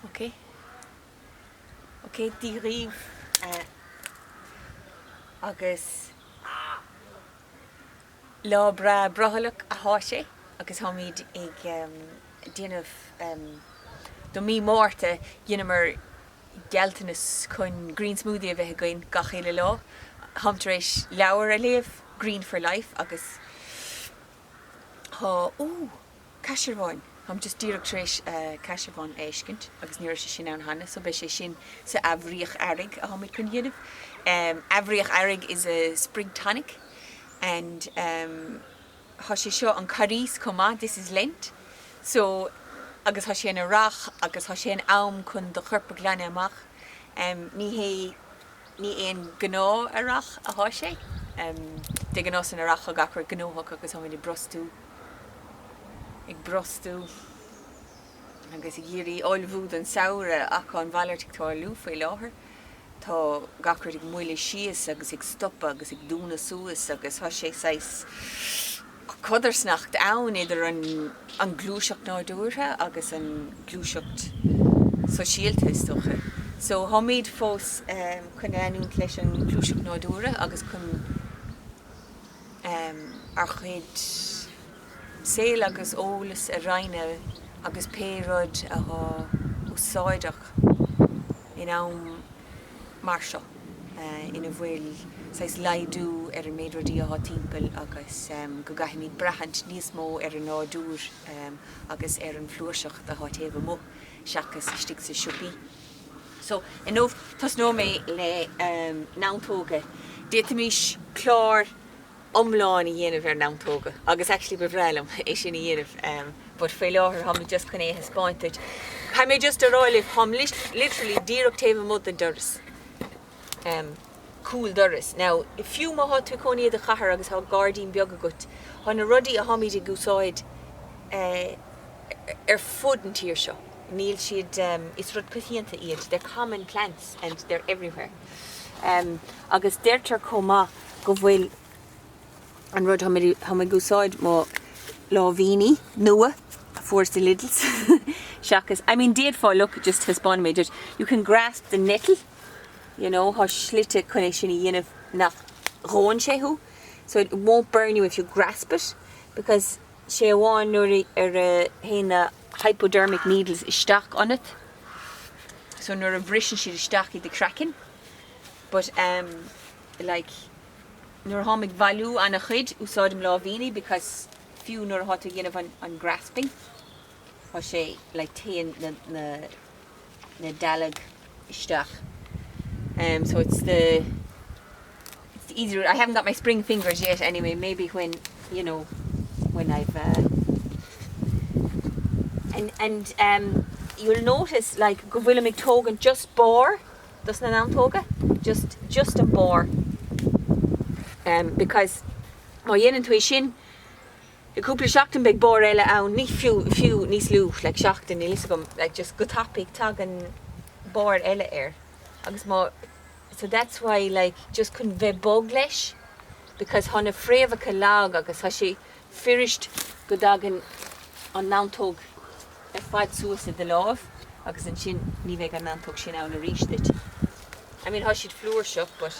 Ok. Ok, Dia dhíbh eh agus Lá breá brothallach athá sé agus tháimid ag em déanamh em do mí Márta dheineamar gealltanas chun green smoothie a bheith againn gach uile lá. Táim tar éis leabhar a léamh, Green for Life agus thá ooh. Caisearbháin. Táim just díreach tar éis Caisearbhán a fheiscint agus ní raibh sé sin ann cheana so beidh sé sin sa athbhríoch earraigh atháimid chun dhéanamh. Athbhríoch earraigh is a spring tonic and tá sé seo an Carghas chomh maith this is Lent so agus tá sé an earrach agus tá sé an am chun do chorp a ghlanadh amach ní hé ní haon gnáth earrach atá sé de gnáth san earrach tá gach rud gnóthach agus táimid ag brostú ag brostú agus ag iarraidh ullmhú don samhradh ach an mhalairt ag tarlú faoi láthair. Tá gach rud ag moilliú síos agus ag stopadh agus ag dúnadh suas agus tá sé saghas codarsnacht ann idir an gluaiseacht nádúrtha agus an gluaiseacht sóisialta is dócha. So táimid fós chun leanúint leis an gluaiseacht nádúrtha agus chun ár gcuid saol agus eolas a roinnt agus pé rud athá úsáideach in am mar seo ina bhfuil saghas laghdú ar an méid rudaí athá timpeall agus go gcaithfimid braithint níos mó ar an nádúr agus ar an flúirseacht athá taobh amuigh seachas istigh sa siopaí. So, inniu tosnóidh mé le neantóga. D'fhéadfaimis clár iomlán a dhéanamh ar neantóga agus actually ba bhreá liom é sin a dhéanamh but faoi láthair táimid just chun é a thaispeáint duit. Caithfidh mé just a rá libh, táim literally díreach taobh amuigh den doras. em. cúl dorais. Now, fiú má tá tú i do chónaí i gcathair agus tá gairdín beag agat, tá na rudaí a tháimid ag úsáid eh ar fud an tír seo, níl siad em. is rud coitianta iad, they're common plants and they're everywhere. Em. agus deirtear chomh maith go bhfuil an rud táimid a, táim ag úsáid mo láimhíní nua a fuaireas i Lidl's seachas, I mean d'fhéadfá look, just taispeánfaidh mé duit, you can grasp the nettle, you know, thá slite chun é sin a dhéanamh nach ndónn sé thú so it won't burn you if you grasp it because sé amháin nuair a ar a théann na hypodermic needles isteach ionat so nuair a bhriseann siad isteach i do chraiceann but em like nuair a tháim ag bhailiú ana chuid úsáidim láimhíní because fiú nuair athá tú ag déanamh an grasping. Tá sé, like, téann na, na, na dealg isteach em so it's the, it's the easy route, I haven't got my spring fingers yet anyway, maybe when, you know, when I've eh and, and em you'll notice like go bhfuilim ag tógaint just barr dos na neantóga, just, just an barr em because má dhéanann tú é sin, I gcúpla seachtain beidh barr eile ann, ní fiú, fiú níos lú, like seachtain, níl fhios agam, like just go tapaidh tagann barr eile air agus má, so that's why like just chun bheith bog leis because thá na fréamhacha lag agus thá sé fuirist go dtagann an neantóg ar fad suas i do láimh agus ansin ní bheidh an neantóg sin ann arís duit. I mean thá siad flúirseach but.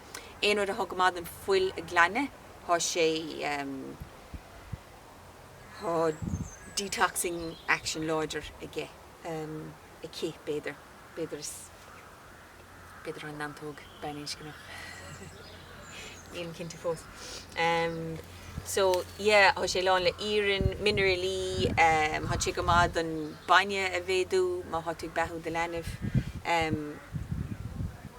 Aon rud athá go maith don fuil a glanadh thá sé thá detoxing action láidir aige, aici b'fhéidir, b'fhéidir is b'fhéidir thá neantóg baininscneach nílim cinnte fós so yeah thá sé lán le iarann, minearailí, thá sé go maith don bainne a mhéadú má thá tú ag beathú do leanbh.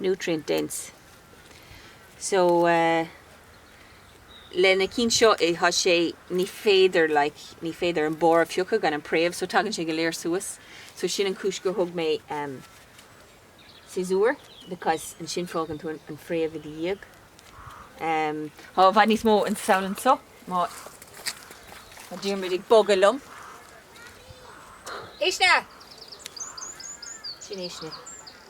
nutrient dense. So eh le na cinn seo eh thá sé, ní féidir like, ní féidir an barr a phiocadh gan an préamh so tagann sé go léir suas. So sin an chúis gur thug mé em siosúr because ansin fágann tú an phréamh i do dhiaidh. Em tá i bhfad níos mó den samhadh anseo má tá Diarmuid ag bogadh liom. Éist na! Sin é sin.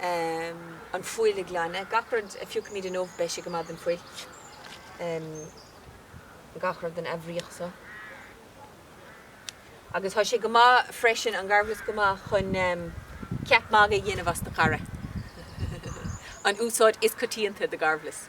an fuil a ghlanadh. Gach rud a phiocfaimid inniu beidh sé go maith don fuil. Gach rud den athbhríoch seo. Agus tá sé go maith freisin, an garbhlus go maith chun ceap magaidh a dhéanamh as do chara. An úsáid is coitianta do gharbhlus.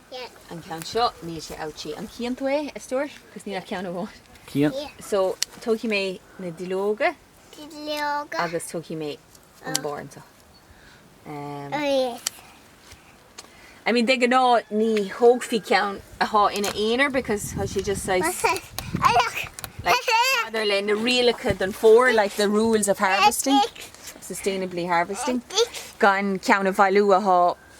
an ceann seo, níl sé ouchy an cíonn tú é, a stór? cos níl ach ceann amháin cíonn so tógfaidh mé na duilleoga duilleoga agus tógfaidh mé an barr anseo ehm oh yes I mean de gnáth ní thógfaí ceann athá ina aonar because thá sé just saghas what's that I look like maidir le na rialacha don for like the rules of harvesting sustainably harvesting gan ceann a bhailiú athá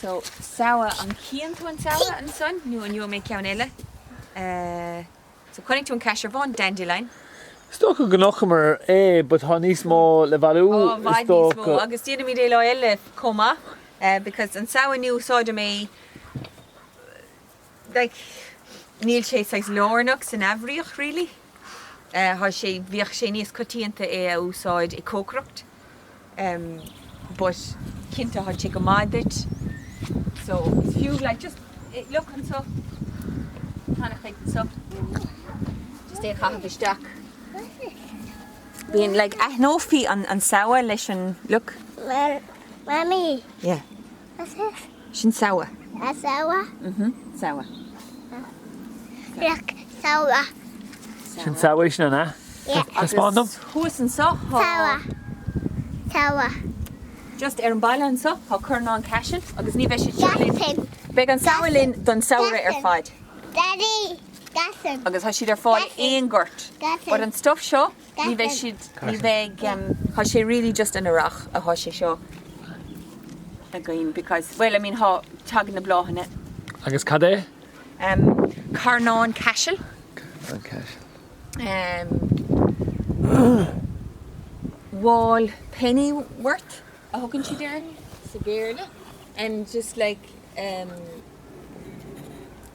So samhadh, an chíonn tú an samhadh ansan nó an gheobhaidh mé ceann eile? So chonaic tú an caisearbhán dandelion. Is dócha go chonaiceamar é but thá níos mó le bhailiú is dócha. Tá, bhfad níos mó agus déanfaimid é lá eile chomh maith because an samhadh inniu úsáidim é like níl sé saghas lárnach san athbhríoch really. Eh thá sé, bhíodh sé níos coitianta é a úsáid i cócaireacht em but cinnte thá sé go maith duit so is fiú like just eh look anseo cheana féin anseo just é a chaitheamh isteach. Bíonn like aithneofaí an an samhadh leis an look. Mummy. Yeah. Sin Samhadh. Samhadh? Samhadh. Samhadh. Samhadh. Sin Samhadh é sin, an ea? Yeah. Taispeáin dom. Agus thuas anseo tá. Samhadh. Samhadh. Just ar an bhaile anseo tá carnán caisil agus ní bheidh siad seo linn. Cassan. Beidh an Samhadh linn don samhradh ar fad. Cassan. Daddy. Cassan. Agus tá siad ar fáil Cassan. aon gort. Cassan. But an stuff seo. Ní bheidh siad, ní bheidh. Tá sé really just an earrach atá sé seo againn because, bhuel, I mean tá, tagann na bláthanna. Agus cad é? Carnán caisil. Carnán caisil. Wall pennywort a thugann siad air sa Bhéarla and just like.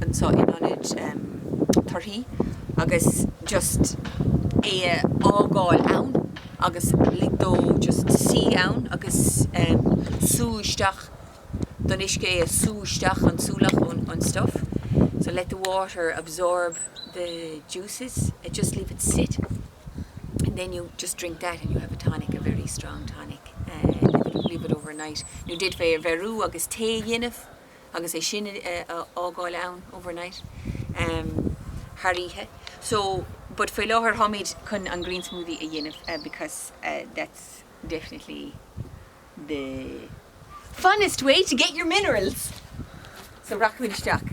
anseo in ionad torthaí agus just é a fhágáil ann agus lig dó just suí ann agus sú isteach don uisce é, sú isteach an súlach ón stuff so let the water absorb the juices and just leave it sit and then you just drink that and you have a tonic, a very strong tonic, leave it overnight. Nó d'fhéadfaí é a bheiriú agus tae a dhéanamh. agus é sin a fhágáil ann overnight em thar oíche so but faoi láthair táimid chun an green smoothie a dhéanamh because that's definitely the funnest way to get your minerals so rachaimid isteach.